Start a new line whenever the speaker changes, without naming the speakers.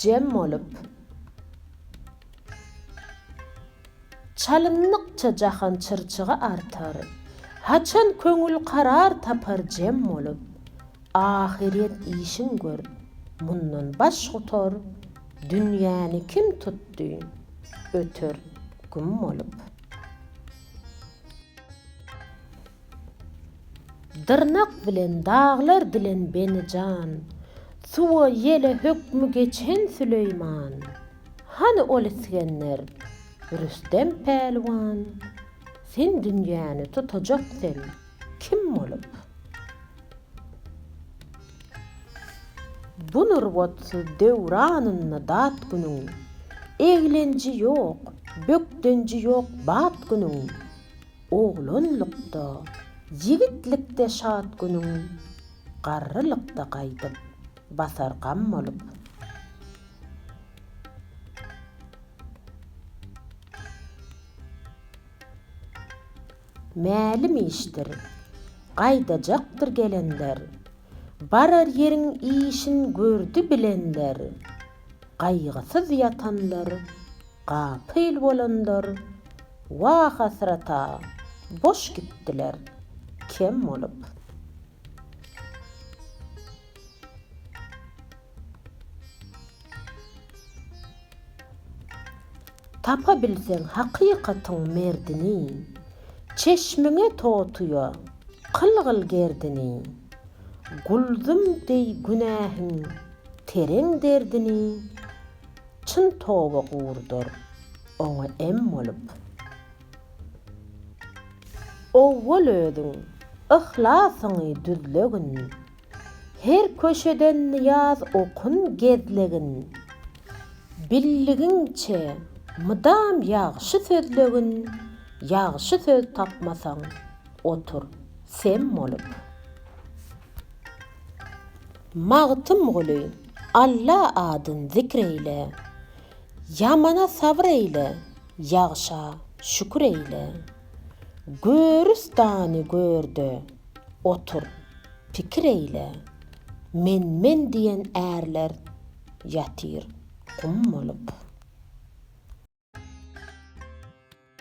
Jem bolup, çalyndykça jahan çyrçygy artar, Haçan köňül karar tapar jem bolup, Ahyret işin gör, mundan baş gutar, Dünýäni kim tutdy, öter güm bolup. Dyrnak bilen daglar dilen beni jan, Suwa ýele hökmi geçen Süleýman. Hany ol Isgender, Rüstem pälwan, Sen dünýäni tutajak sen kim bolup? Bu nurbatsyz döwranynda dat günüň, Eglenji ýok, bökdenji ýok bat günüň. Oglanlykda, ýigitlikde şat günüň, Garrylykda gaýdyp, basar gam bolup. Mälim işdir, gaýdajakdyr gelenler, Barar ýeriň işin gördi bilenler, Gaýgysyz ýatanlar, gapyl bolanlar, Wah-hasrat-a, boş gitdiler, kem bolup. Tapa bilseň hakykatyň merdini, Çeşmiňe totuýa kylgyl gerdini. Guldum deý günähiň tereň derdini, Çyn toba gurdur, oňa em bolup. Owwal özüň yhlasyňy düzlegin, Her köşeden nyýaz okun gezlegin. Bildigiňçe, mydam ýagşy sözlegin, Ýagşy söz tapmasaň, otur sem bolup. Magtymguly, Alla adyn zikr eýle, Ýamana sabyr eýle, ýagşa şükür eýle. Görüstany gör-de, Otur, pikir eýle, men-men diýen ärler ýatyr gum bolup.